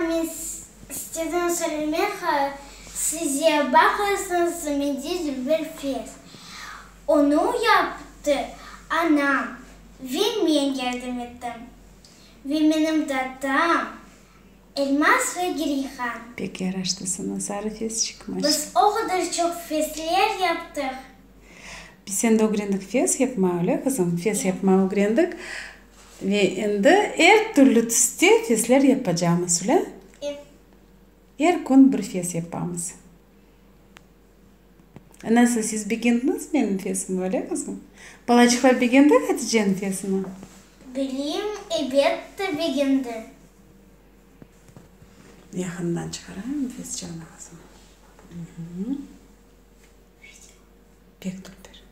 Men istedim söylemek size, baqarsıñız, mende zülfel fes. Onı yaptı anam ve men yardım ettim. Ve menim datam, Elmas ve Gireyhan. Pek yaraştı saña sarı fes çıkmış. Biz o qadar çoq fesler yaptıq. Biz endi ögrendik fes yapma, öyle qızım? Fes yapma ögrendik. Ve endi er türlü tüste fesler yapacamız, şule? Ep. Er kün bir fes yapamız. Nasıl, siz begendiñiz menim fesimi, öylemiz? Balaçıqlar begendi Haticeniñ fesini? Bileyim, ebette begendi. Yaqından çıqarayım fes çañlağasını. Pek tüpper.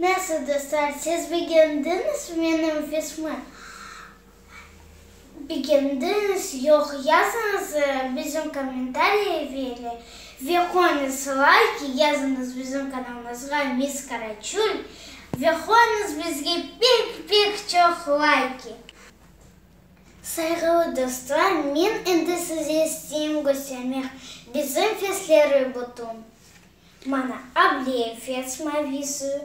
Nasıl dostlar, siz begendiñizmi menim pismi? Begendiñiz, yoq, yazıñız bizim kommentariya vere ve qoyuñız layk, yazıñız bizim kanalımızğa Miss Karaçöl ve qoyuñız bizge pek-pek çoq layki. Sayğılı dostlar, men endi size isteyim köstermek bizim fesleri bütün. Mana, Ableyev fes mavisi.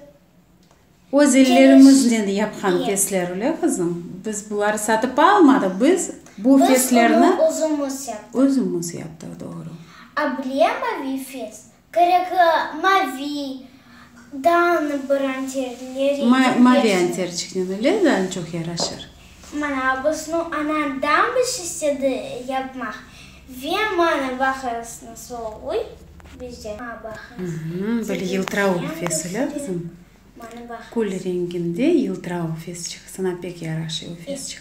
Öz ellerimiznen yapqan fesler, öyle qızım? Biz buları satıp almadıq, biz bu feslerni. Biz onı özümiz yaptıq. Özümiz yaptıq, doğru. Ableye mavi fes, Kerekli mavi dağnı bir anter rengi bersin. Mavi anterçiknen öyle da çoq yaraşır. Mana busnı anan dambiş istedi yapmaq ve mana baharısını soğuy bizde. Böyle yıltırauv fesi lazım. Kül renginde yıltırauv fesçik. Sana pek yaraşıy o fesçik.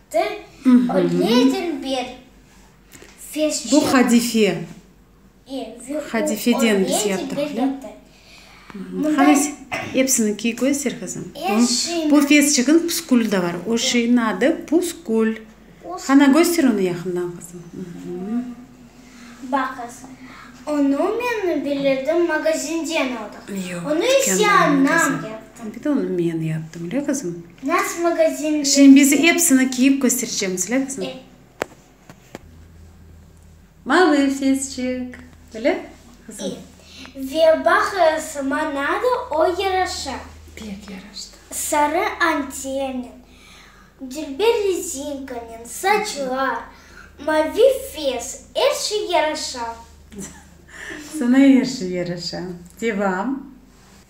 Bu hadife. Hadifeden biz yaptıq. Hepsini kiy, köster qızım. Bu fes çikin püskül de bar. O şeyin adı püskül. Qana köster onı yaqından qızım. Yoq, dükkândan aldıq. Bir de onı men yaptım, öyle qızım? Naz magazininde. Şembizi epsini kiyip köstereceğim, sile qızım. E. Malefesçik, öyle qızım. İ. Ve baq sma nada o yaraşa. Pek yaraştı. Sarı antennen, dülber rezinkanen, saçlar, mavi fes, er şey yaraşa. Sana er şey yaraşa. Devam.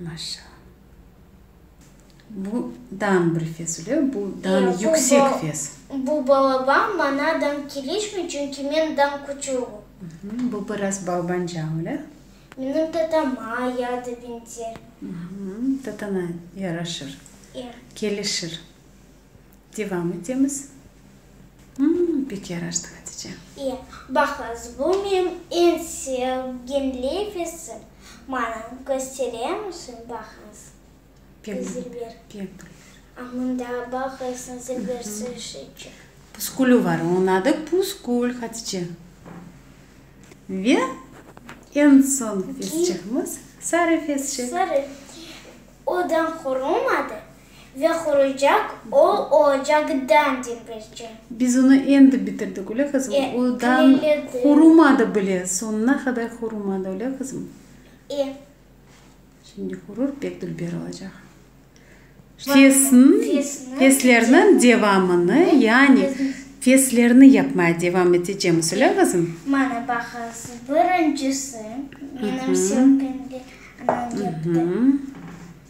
Maşa. Bu dan bir fes öyle, bu dan yüksek fes. Bu balaban, mana dan kelişmey, çünki men dan küçügim. Bu biraz balbanca öyle. Menim tatama ya da benzer. Tatana yaraşır, kelişir. Devam etemiz. Hımm, pek yaraştı, Hatice. İyi, bahlas, bu menim eñ sevgen leyfesim. Maña köstere müsün bahlas? Pek Zilber. Pek bile. A mında bahlasnıñ zilber sırışıçı. Puskülü var, onıñ adı Puskül, Hatice. Ve eñ soñki fesçihimiz, sarı fesçik. Sarı. O dañ qurulmadı, Ve quruycaq o ocaqdan dengizci. Biz onı endi bitirdik, öyle qızım? E, Odan tilemedim. qurumadı bile, soñuna qadar qurumadı, öyle qızım? E. Şimdi qurur, pek dülber olacaq. Fesn, Fesni- feslerniñ devamını, yani feslerni yapmaya devam etecemiz, öyle qızım? Mana baqıñız, birincisi, menim sözümde anam yaptı.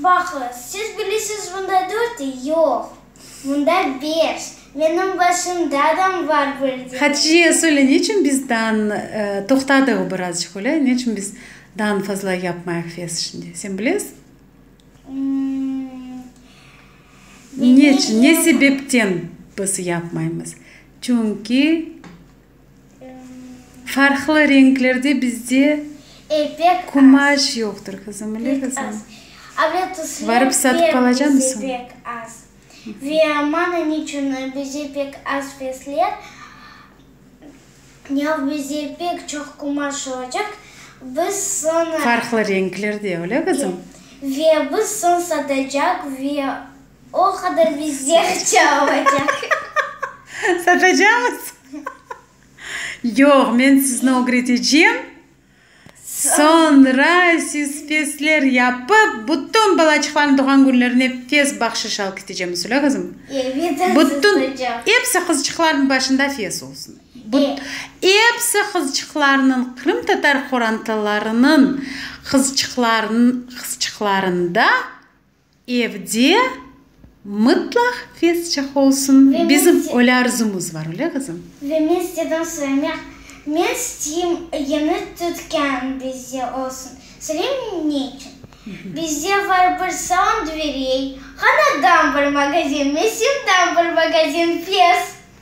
Vahı, siz bilisiz bunda dört ey? Yoq, bunda beş, menim başımdadam var bir dene. Hatice, söyle, neçün biz dan, toqtadı o birazcıq öyle, neçün biz dan fazla yapmayıq fes şimdi, sen bilesiz? Neçün, ne sebepten biz yapmaymız? Çünki. Farqlı renklerde bizde kumaş yoqtır, qızım, öyle qızım? Barıp satıp alacamısıñ? Farqlı renklerde, öyle qızım? O qadar bizde aqça olacaq. Satacaqmız? Yoq, men sizni ögretecem, soñra siz festler yapıp, bütün balaçıqlarnı doğğan künlerine fest bahşış alıp ketecemiz, öyle qızım? Evet, aziz ocam. Episi qızçıqlarnıñ başında fest olsun. Episi qızçıqlarnıñ, qırımtatar qorantalarınıñ qızçıqlarında. Evde mıtlaq fesçah olsun, bizim öyle arzumız var, öyle qızım? Ve men sizden söylemek, men isteyim, yeni tükân bizde olsun. Söyleyim ne içün? Bizde var bir salon dverey, hanadan bir magazin, mesindan bir magazin, fes.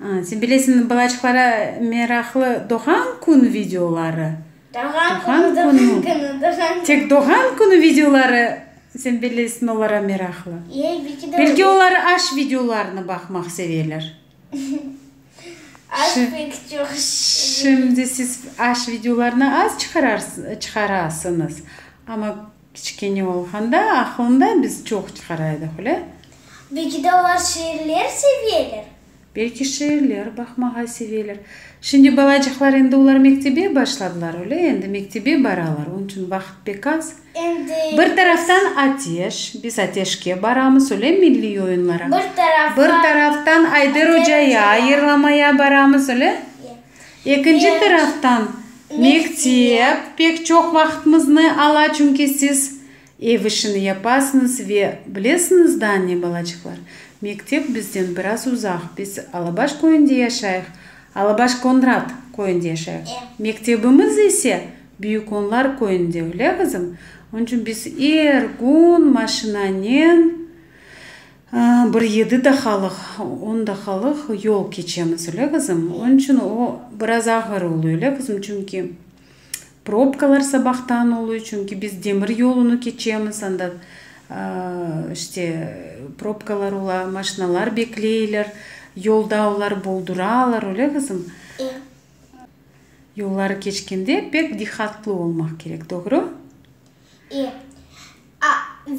Sen bilesiñmi, balaçıqlara meraqlı doğğan kün videoları, doğğan künü, doğğan künü, tek doğğan künü videoları, sen bilesiñ, olara meraqlı. Belki olar aş videolarını baqmaq seveler. Aş pek çoq. Şimdi siz aş videolarını az çıqarasıñız, amma. Kiçkene olğanda aqılında biz çoq çıqara edik, öyle? Belki de olar şiirler seveler? Belki şiirler baqmağa seveler. Şimdi balacıqlar endi olar mektebe başladılar, öyle? Endi mektebe baralar, onıñ içün vaqıt pek az. Endi. Bir taraftan ateş, biz ateşke baramız, öyle, milliy oyunlara. Bir taraftan. Bir taraftan Ayder Ocaya, yırlamaya baramız, öyle? Ekinci taraftan, mektep pek çoq vaqıtmıznı ala, çünki siz ev işini yapasıñız ve bilesiñiz da, anne balacıqlar, mektep bizden biraz uzaq, biz Alabaş köyünde yaşayıq, Alabaş-Konrat köyünde yaşayıq, mektebimiz ise Büyükonlar köyünde, öyle qızım? Onıñ içün biz er kün maşinanen. Bir yedi daqalıq, on daqalıq yol keçemiz, öyle qızım. Onıñ içün o, biraz ağır oluy, öyle qızım, çünki probkalar sabahtan oluy, çünki biz demir yolunı keçemiz, anda, işte, probkalar ola, maşinalar bekleyler, yolda olar bolduralar, öyle qızım. Yolları keçkende pek diqqatlı olmaq kerek, doğru?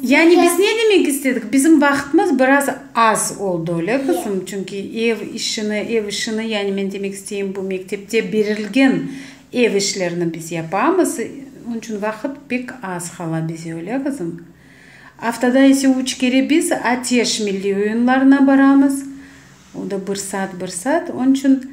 Yani biz ne demek istedik? Bizim vaqıtımız biraz az oldı, öyle qızım? Çünki ev işini, ev işini, yani men demek isteyim, bu mektepte berilgen ev işlerini biz yapamız, onıñ içün vaqıt pek az qala bize, öyle qızım? Aftada ise üç kere biz ATEŞ milliy oyunlarına baramız, o da bir saat, bir saat. Onıñ içün